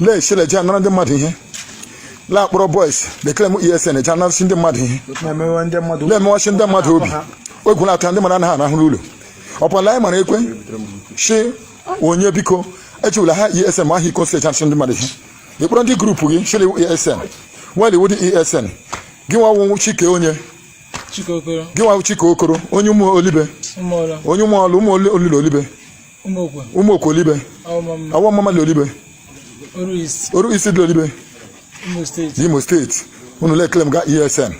na-esile ji anara ndị mmadụ ihe na-akpọrọ boys le-claim esn ji anarasị ndị mmadụ ihe na-emewe ndị mmadụ na-emewasị ndị mmadụ obi egwu na-atụ ndị mmadụ anaghị arahụ n'ụlọ ọpụla anyị mara ekwe si onye biko echewula ha esn ma aha iko si echanasị ndị mmadụ ihe ị kpọrọ ndị group gị chịrị esn while ị wụdị esn gị nwa wụ chike onye Chike Okoro gị nwa wụ chike okoro onye ụmụ olibe ụmụ ọrụ onye ụmụ ọlụ ụmụ olile olibe ụmụokwe olibe awọ omamma dị olibe oru east dị olibe imo state unu le-claim ga esn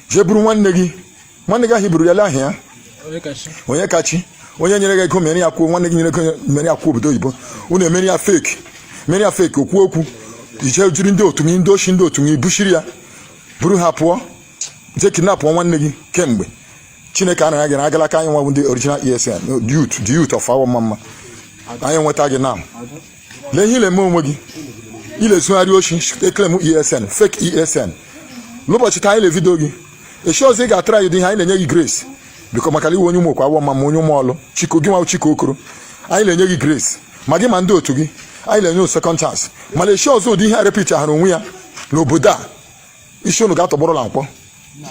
jee buru nwanne gị nwanne gị ahụ buru ya la ahịa ya onyekachi onye nyere gị ego mere ya akwụkwọ nwanne gị nyere ego mere ya akwụkwọ obodo oyibo unu emere ya fake mere ya fake akwụkwọ ị jee jiri ndị otu gị ndị oshi ndị otu gị buchiri ya buru ha pụọ jee kidnapụọ nwanne gị kemgbe chineke a nara gị na agalaka anyị nwa ndị original esn the youth of awọ omamma anyị nweta gị now lee ihe i le-eme onwe gị i le-ezugharị oshi e-claim esn fake esn n'ụbọchị taa anyị le video gị echi ọzọ ị ga-atara anyị dị ihe anyị na-enye gị grace because maka ị wụ onye ụmụokwe awọ omamma onye ụmụọlụ chike gị nwa chike okoro anyị na-enye gị grace ma gị ma ndị otu gị anyị na-enye second chance mana echi ọzọ ụdị ihe a repeat ahụrụ onwe ya n'obodo a isi unu ga-atọgbọrọ la nkwọ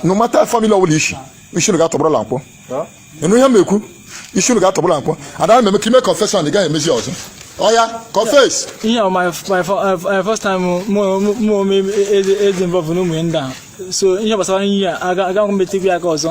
no matter family ọbụla i si isi unu ga-atọgbọrọ la nkwọ ị nụ ihe m ekwu isi unu ga-atọgbọrọ la nkwọ ada m eme ka ime confession ị gaghị emezi ọzọ oya confess ihe a my my fir- uh, uh, first time mụ mụ ome eze eze involve n'ụmụ ndị a so ihe gbasara ihe a aga aga m emetụkwa ya aka ọzọ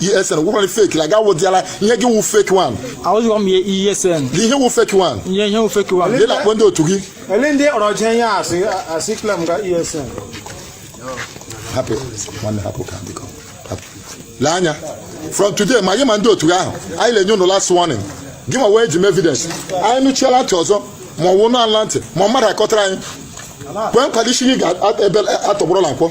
ESN gwụkwara fake la gawo diala ihe gị wụ fake one ahụzikwa m ihe ESN ihe wụ fake one ihe ihe wụ fake one ndị na-akpọ ndị otu gị ele ndị ọrọje ihe asị asị claim ga ESN hapụ nwanne hapụ ka biko hapụ lee anya from today ma anyị ma ndị otu gị ahụ anyị na-enye unu last warning gị ma wee ji m evidence anyị nụchiela ntị ọzọ ma ọ wụ nụ ala ntị ma mmadụ akọtara anyị kwee nkwado isi gị ga-atọgbọrọ la nkwọ